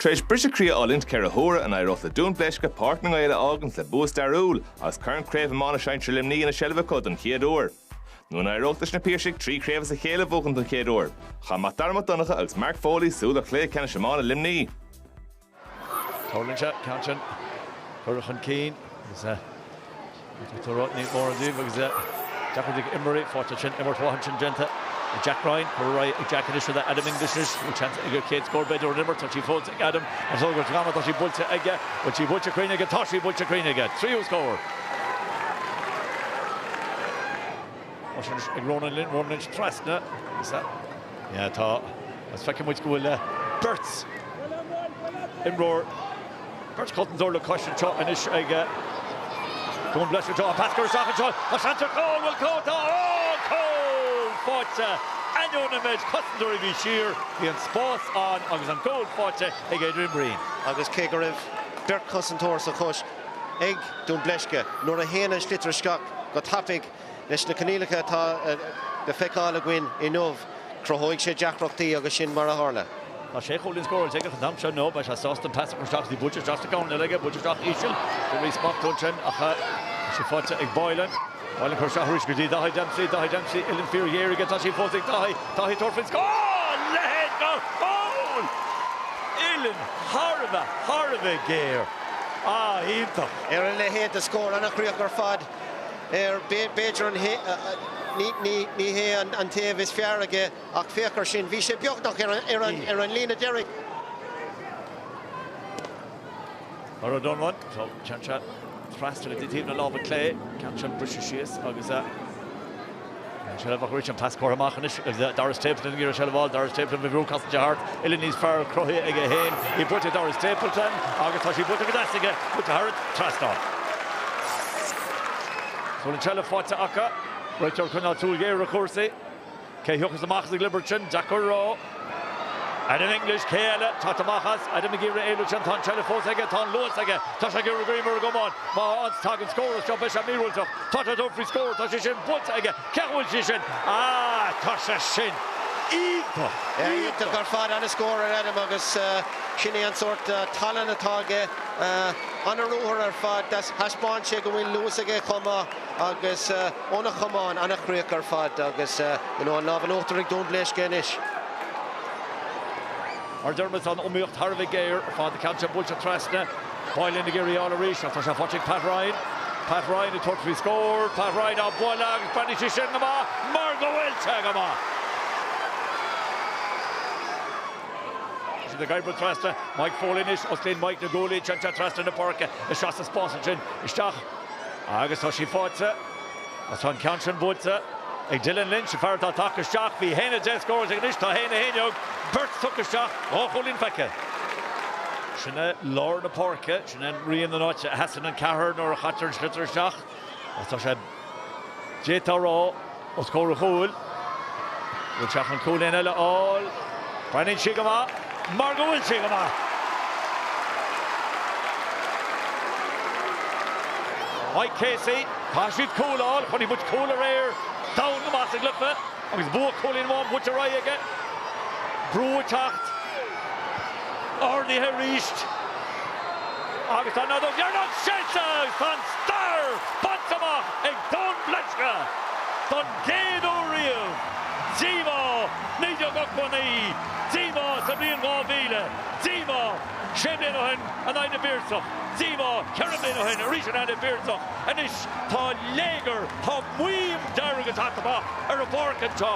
Tar éis briseadh croí a fhulaingt ceithre huaire in aghaidh an éireodh le Dún Bleisce, Páirc na nGael a fhágaint le bua stairiúil agus Corn Craobh Iomána Sinsear Luimnigh ina seilbh acu don chéad uair. Nó an éireodh leis na Piarsaigh trí chraobh as a chéile a bhuachaint don chéad uair? Chaith Mac Dara Mac Donncha agus Mark Foley súil ar chluiche ceannais iomána Luimnigh. Tarlaíonn sé, ceann sin curtha chun cinn agus níl mórán díobh agus deacair do imreoirí fáil ansin, imirt mhaith ansin déanta ag Jack Ryan, curtha ar aghaidh ag Jack anois le Adam English anois, bhfuil seans aige ar chéad scór b'fhéidir ón imirt, tá sí fós ag Adam, an sliotar is giorra, tá sí buailte aige, bhfuil sí buailte cruinn aige, tá sí buailte cruinn aige, tríú scór! Mar sin ag Ronan Lynch, Ronan Lynch trasna is ea ea tá agus feicfidh muid go bhfuil beirt imreoir, beirt chosantóir le cois anseo anois ag Go bhfuil breis anseo Pat ag cur isteach anseo tá seans ar cúl, bhfuil cúl tá an cúl fáighte ainneoin an méid cosantóirí a bhí siar bhí an spás ann agus an cúl fáighte ag Adrian Breen. Agus cé go raibh beirt cosantóir sa bhreis ag Dún Bleisce nuair a théann an sliotar isteach go tapaidh Leis na coinníollacha atá le feiceáil againn inniu, cruthóidh sé deacrachtaí agus sin mar a tharla. Tá sé chúilín scóráilte aige faoin am seo inniu. Beidh sé sásta an pas a chur isteach go dtí buailte isteach sa gcoirnéal aige. Buailte isteach íseal go Reece Burke ansin ach tá sí faighte ag Boylan. Boylan ag cur isteach arís go dtí Daithí Dempsey. Daithí Dempsey, uillinn fíorghéar aige. Tá sí fós ag Daithí. Daithí ag tabhairt faoin scór! Leath gar poll! Uillinn thar a bheith, thar a bheith géar. Ah, iontach! Ar a leithéid de scór, an-chríoch ar fad. ar b'fhéidir an hé, ní hé an taobh is fearr aige ach féach ar sin, bhí sé beagnach ar an líne deiridh. Mar a dhéanann sé, téann sé trasna taobh na láimhe clé, ceann sin briste síos agus. An tseilbh a chuirfidh an cleas comhartha amach anois agus Dara Stapleton ag iarraidh an tseilbh a fháil. Dara Stapleton faoi bhrú casta thart, uillinn níos fearr cruthaithe aige féin í buailte ag Dara Stapleton agus tá sí buailte go deas aige, buailte thar an trasnán. Bhfuil an tseilbh faighte acu? Réiteoir ag coinneáil súil ghéar ar chúrsaí. Cé a thiocfas amach as an gcliobar sin? Deacair a rá. Adam English cé eile? Teacht amach as. Adam McGee re éileamh sin. Tá an tseilbh fós aige. Tá an luas aige. Tá sé ag iarraidh go raibh mar a gcumann. Má thagann má thagann scór as seo. Beidh sé míorúilteach. Tá tabhairt faoin scór. Tá sé sin buailte aige. Cé chomh bhfuil sé sin? Ah tá sé sin iontach. Iontach ar fad. Ana scór ag Adam agus sin é an sórt tallann atá aige. Ana ruathar ar fad. Thaispeáin sé go bhfuil luas aige chomh maith agus. Ó na camáin, an-chríoch ar fad agus you know an lámh in uachtar ag Dún Bléisce anois. Mar Dermot tá an iomaíocht thar a bheith géar ar fad. An ceann sin buailte trasna. Fáil Fhinn ag iarraidh í a fháil arís ach tá sé faighte ag Pat Ryan. Pat Ryan ag tabhairt faoi scór. Pat Ryan á bualadh agus breathnaíonn sé sin go maith mar go bhfuil sé go maith! Sin ag oibriú trasna. Mike Foley anois. Osclaíonn Mike na guaillí. Téann sé trasna na páirce. Isteach sa spás ansin. Isteach. Agus tá sí faighte. Agus tá an ceann sin buailte ag Dylan Lynch, an fear atá ag tacú isteach. Bhí Doon an dá scór déag anois, tá Haine 1 iog. Beirt tugtha isteach, dhá chúilín feicthe. Sin é lár na páirce, sin é rian den áit a sheasann an ceathrar nuair a chaitear an sliotar isteach. Agus tá sé, d'fhéadfá a rá. os comhair a chúil. Le teacht chun cúilín eile a fháil, breathnaíonn sí go maith mar go bhfuil sí go maith! Mike Casey, caithfidh siad cúl a fháil, chonaic muid cúl aréir, domhain go maith sa gcluiche agus bua cúilín amháin bainte amach aige. Brú ag teacht, ardaithe arís agus tá an fheadóg dheireanach séidte agus tá an stair bainte amach ag Dún Bléisce, don gcéad uair riamh, díomá, 1989, díomá sa bhliain 2000, díomá, sé bliana ó shin in aghaidh na bPiarsach, díomá, ceithre bliana ó shin arís in aghaidh na bPiarsach, anois tá léigear, tá maidhm dhearg ag teacht amach ar an bpáirc anseo.